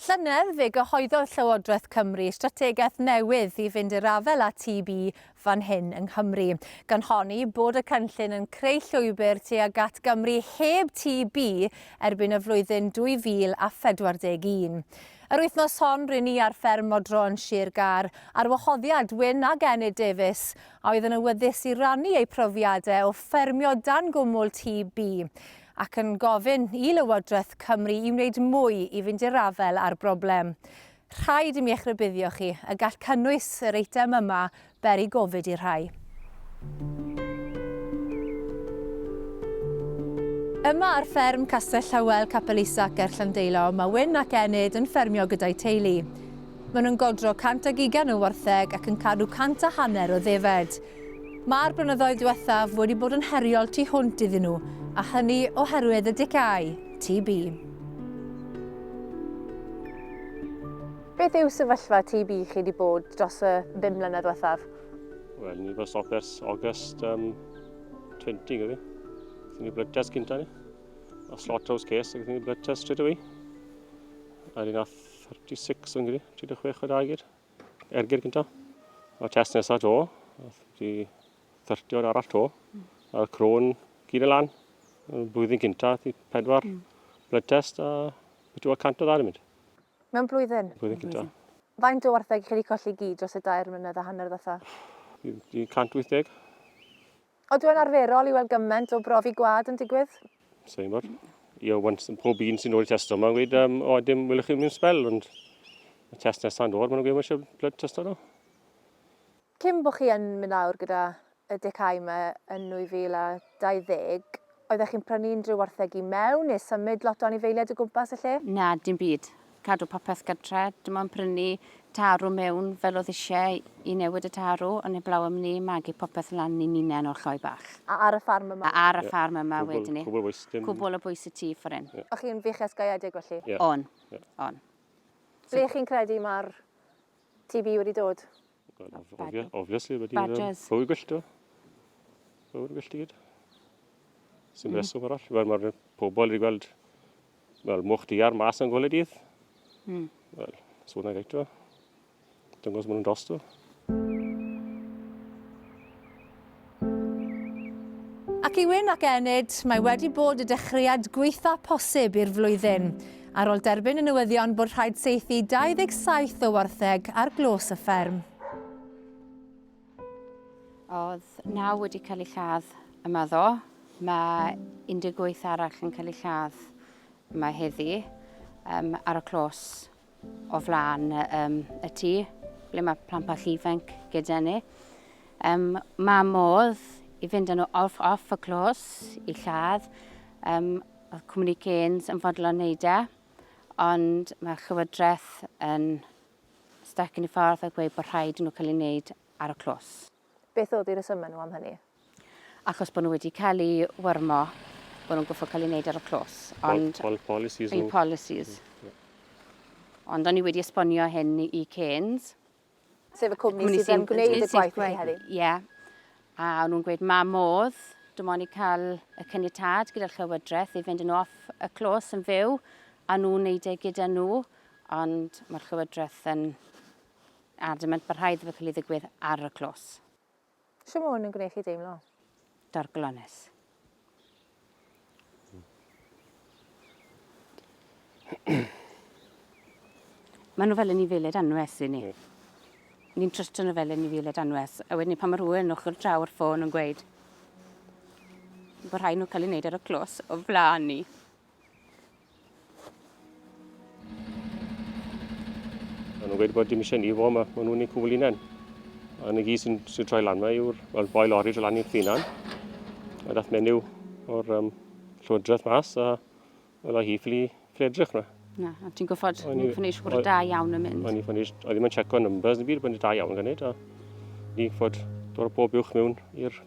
Llynedd, fe gyhoeddodd Llywodraeth Cymru strategaeth newydd i fynd i'r afael â TB fan hyn yng Nghymru, gan honni bod y cynllun yn creu llwybr tuag at Gymru heb TB erbyn y flwyddyn 2041. Yr wythnos hon, ry'n ni ar fferm Modro yn Sir Gâr, ar wahoddiad Wyn ac Enid Davies, a oedd yn awyddus i rannu eu profiadau o ffermio dan gwmwl TB. ac yn gofyn i Lywodraeth Cymru i wneud mwy i fynd i'r afael â'r broblem. Rhaid i mi eich rybuddio chi y gall cynnwys yr eitem yma beri gofid i'r rhai. Yma ar fferm Castell Llywel, Capel Isac ger Llandeilo, mae Wyn ac Enid yn ffermio gyda'u teulu. Maen nhw'n godro 120 o wartheg ac yn cadw cant a hanner o ddefed. Mae'r blynyddoedd diwethaf wedi bod yn heriol tu hwnt iddyn nhw, a hynny oherwydd y dicâu, TB. Beth yw sefyllfa TB chi wedi bod dros y bum mlynedd diwethaf? Wel, ni wedi stop ers August um, 20, gyda fi. Gethon ni blood test gyntaf ni. A slot house case, gethon ni blood test straight away. A ni nath 36 yn gyda, 36 o dau gyd. ergyd gynta. A test nesaf to, di thyrtio'r arall to. Mm. A'r crôn gyd yn lan. Blwyddyn gynta, di pedwar mm. blood test a beth yw'r cant o ddau mynd. Mewn blwyddyn? Blwyddyn gynta. Faint o wartheg chi wedi colli gyd dros y dair mlynedd a hanner ddatha? Di 180. Odyw e'n arferol i weld gymaint o brofi gwad yn digwydd? So i'n bod, i o wan, pob un sy'n dod i testo yma yn gweud, um, o, dim wylwch chi mewn spel, ond y test nesaf yn dod, maen nhw'n gweud, mae eisiau blood testo nhw. Cyn bod chi yn mynd lawr gyda y decau yma yn 2020, oeddech chi'n prynu unrhyw wartheg i mewn neu symud lot o anifeiliaid o gwmpas y lle? Na, dim byd. cadw popeth gytre, dim ond prynu tarw mewn fel oedd eisiau i newid y tarw, ond heblaw am ni, magu popeth lan i ninnen o'r lloi bach. A ar y ffarm yma? A ar y ffarm yma wedyn ni. Cwbl bwys. Cwbl o bwys y tu ffor hyn. O'ch chi'n fuchesgaeedig felly? O'n. O'n. Ble chi'n credu mae'r TB wedi dod? Badger. Obviously, wedi Badgers. bywyd gwyllt o. Bywyd gwyllt i gyd. Sy'n mm. reswm arall. Fel mae'r pobl wedi gweld fel mwch di ar mas yn gwylio dydd. Mm. Wel, swn i'n reit o. Dyngos mwyn yn dosto. Ac i wyn ac enid, mae wedi bod y dechreuad gweitha posib i'r flwyddyn. Ar ôl derbyn y newyddion bod rhaid saethu 27 o wartheg ar glos y fferm. Oedd naw wedi cael ei lladd yma ddo. Mae 18 arall yn cael ei lladd yma heddi um, ar y clos o flaen um, y tŷ, ble mae plant bach ifanc gyda ni. Um, mae modd i fynd yn off, off y clos i lladd. Um, oedd Cwmni Cairns yn fodlon wneud e, ond mae Llywodraeth yn stac yn y ffordd a gweud bod rhaid nhw cael ei wneud ar y clos. Beth oedd eu rhesymau nhw am hynny? Achos bod nhw wedi cael eu wyrmo, bod nhw'n gorfod cael eu wneud ar y clos. Ond... Pol, pol, policies nhw. policies. Mm, Ond o'n i wedi esbonio hyn i Canes. Sef y cwmni, cwmni sy'n gwneud y gwaith i heddi? Ie. Yeah. A o'n nhw'n gweud, ma modd, dim ond i cael y cynnytad gyda'r Llywodraeth i fynd yn off y clos yn fyw, a nhw'n neud e gyda nhw, ond mae'r Llywodraeth yn A dim ond bod rhaid iddo cael ei ddigwydd ar y clos. Sut mae hwn yn gwneud chi deimlo? Dorglonus. Mae nhw fel yn ei feled anwes i ni. Ni'n trystio nhw fel yn ei feled anwes. A wedyn pan mae rhywun yn ochr draw o'r ffôn yn gweud bod rhaid nhw cael ei wneud ar y clos o flaen ni. Maen nhw'n gweud bod dim eisiau ni fo yma, maen nhw'n ei cwbl unan. A na gyd sy'n sy troi lan yma yw'r well, boi lori troi lan i'r thynan. A dath menyw o'r um, llywodraeth mas a oedd o hi ffili edrych na. Na, a ti'n gwybod, o'n i'n ffynnu siwr da iawn yn mynd. O'n i'n ffynnu, oedd ddim yn checo numbers yn byd, bod yn da iawn gan neud. A ni'n ffod dod o bob uwch mewn i'r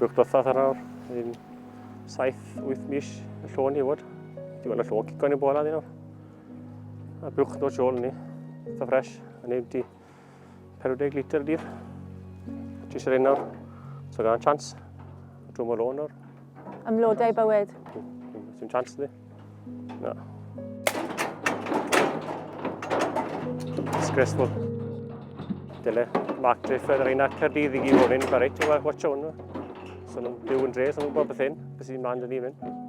Bwch dothodd ar awr, yn 7-8 mis y llo ni fod. Digon y llo cico ni bola ni nawr. A bwch dod siol ni, eitha ffres, yn ei wti. 40 litr dydd. Jyst yr un nawr. So gan chance. Drwy mor o'n nawr. Ymlodau bywyd. Sy'n chance ydi. Na. Disgraceful. Dyle Mark Drifford ar ein at Cardydd i gyd ofyn, mae reit, watch o'n nhw. So nhw'n byw yn dre, so nhw'n gwybod beth hyn, beth sy'n mlaen dyn ni'n mynd.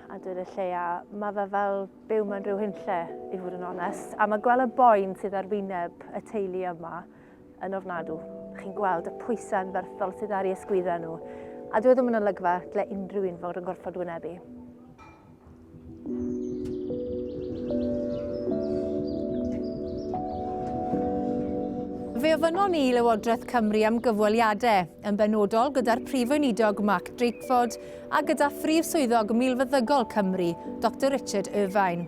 a dweud y lleia, mae fe fel byw mewn rhyw hunlle, i fod yn onest. A mae gweld y boen sydd ar wyneb y teulu yma yn ofnadw. Chi'n gweld y pwysau yn ferthol sydd ar ei ysgwyddau nhw. A dwi e ddim yn olygfa lle unrhyw un fod yn gorfod wynebu. Fe ofynnon ni i Lywodraeth Cymru am gyfweliadau, yn benodol gyda'r Prif Weinidog Mark Drakeford a gyda Phrif Swyddog Milfeddygol Cymru, Doctor Richard Irvine.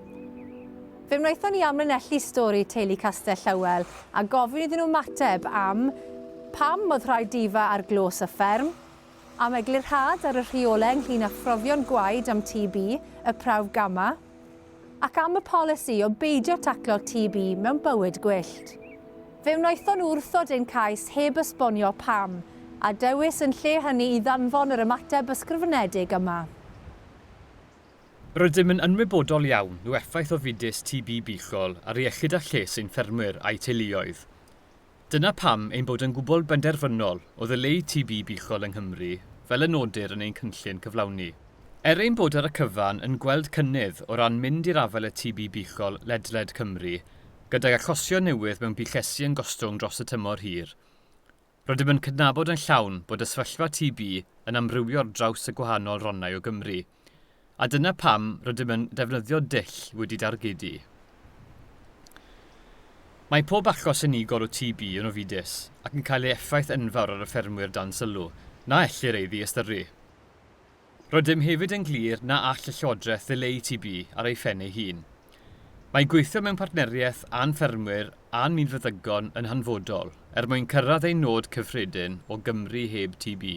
Fe wnaethon ni amlinellu stori teulu Castell Llywel a gofyn iddyn nhw ymateb am pam oedd rhaid difa ar glos y fferm, am eglurhad ar y rheolau ynglŷn â phrofion gwaed am TB, y prawf gama, Ac am y polisi o beidio taclo TB mewn bywyd gwyllt? Fe wnaethon nhw wrthod ein cais heb esbonio pam, a dewis yn lle hynny i ddanfon yr ymateb ysgrifenedig yma. Rydym yn ynwybodol iawn o effaith ofidus TB buchol ar iechyd a lles ein ffermwyr a'u teuluoedd. Dyna pam ein bod yn gwbl benderfynol o ddileu TB buchol yng Nghymru, fel y nodir yn ein cynllun cyflawni. Er ein bod ar y cyfan yn gweld cynnydd o ran mynd i'r afael â TB buchol ledled Cymru, gydag achosion newydd mewn buchesi yn gostwng dros y tymor hir, rydym yn cydnabod yn llawn bod y sefyllfa TB yn amrywio ar draws y gwahanol rannau o Gymru. A dyna pam rydym yn defnyddio dull wedi dargedu. Mae pob achos unigol o TB yn ofidus ac yn cael ei effaith enfawr ar y ffermwyr dan sylw, na ellir ei ddiystyru. Rydym hefyd yn glir na all y Llywodraeth ddileu TB ar ei phen ei hun. Mae gweithio mewn partneriaeth â'n ffermwyr a'n mynfeddygon yn hanfodol er mwyn cyrraedd ein nod cyffredin o Gymru heb TB.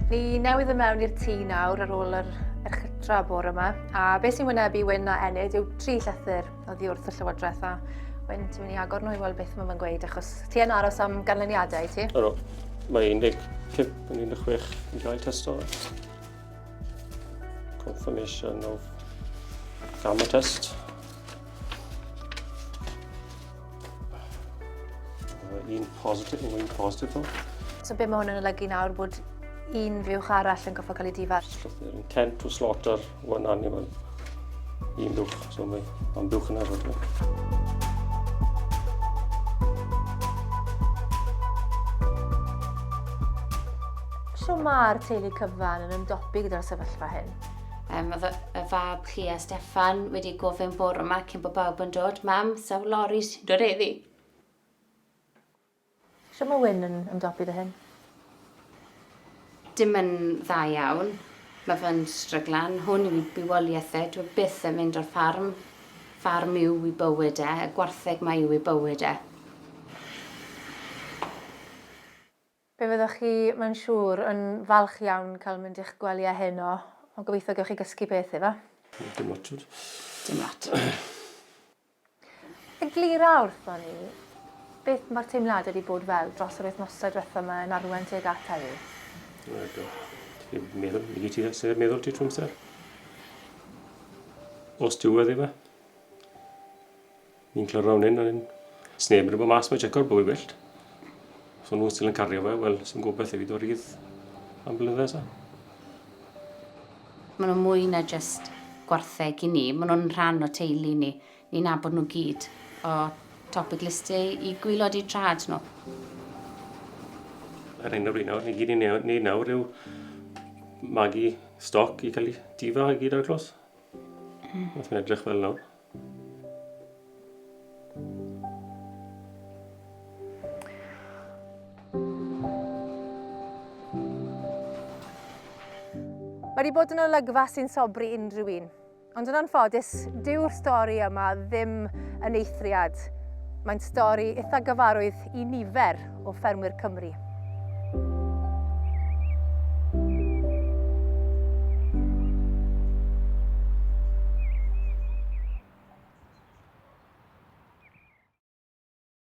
Ni newydd yn mewn i'r tŷ nawr ar ôl yr erchytra bore yma, a beth sy'n wynebu Wyn a Enid yw tri llythyr oddi wrth y Llywodraeth a Wyn, ti'n mynd i agor nhw i weld beth mae fe'n gweud, achos ti yn aros am ganlyniadau, ti? Ydw, mae 15 Yn 16, enjoy testors. Confirmation of gamma test. un positif, un positif o. So be mae hwn yn olygu nawr bod un fuwch arall yn goffa cael ei difar? Intent to slaughter Mae'n annibyl. Un dwch, so mae o'n dwch yn efo. So mae'r teulu cyfan yn ymdopi gyda'r sefyllfa hyn? Um, y fab chi a Stefan wedi gofyn bore yma cyn bod bawb yn dod. Mam, sawl lori sy'n dod eddi? Shwt mae Wyn yn ymdopi 'da hyn? Dim yn dda iawn. Mae fe'n stryglan. Hwn yw ei bywoliaeth e. Dyw e byth yn mynd o'r ffarm. Ffarm yw ei bywyd e. Y gwartheg 'ma yw ei bywyd e. Fe fyddwch chi, mae'n siŵr, yn falch iawn cael mynd i'ch gwely â heno, ond gobeithio gewch chi gysgu peth, efe? Dim lot, tybed. Dim lot. Eglura wrthon ni beth mae'r teimladau wedi bod fel dros yr wythnosau diwetha' 'ma yn arwain tuag at heddiw? Wel, do. Ti'n meddwl, nid ti sef yn meddwl ti trwy amser. Os ti wedi fe. Ni'n clyrfa hwn yn sneb yn rhywbeth mas mae Jacob bwy wyllt. Os o'n nhw'n still yn cario fe, wel, sy'n gobeith i fi do rydd am blynyddoedd eto. Maen nhw'n mwy na jyst gwartheg i ni, maen nhw'n rhan o teulu ni. Ni'n nabod nhw gyd, o top y glistiau i gwylod eu trad nhw. Yr hyn rwy'n nawr, ni gyd yn neud nawr yw magu stoc i cael ei difa i gyd ar y clos. Wrth hmm. mae'n edrych fel nawr. Mae wedi bod yn olygfa sy'n sobri unrhyw un. Ond yn anffodus, dyw'r stori yma ddim yn eithriad. Mae'n stori eitha gyfarwydd i nifer o ffermwyr Cymru.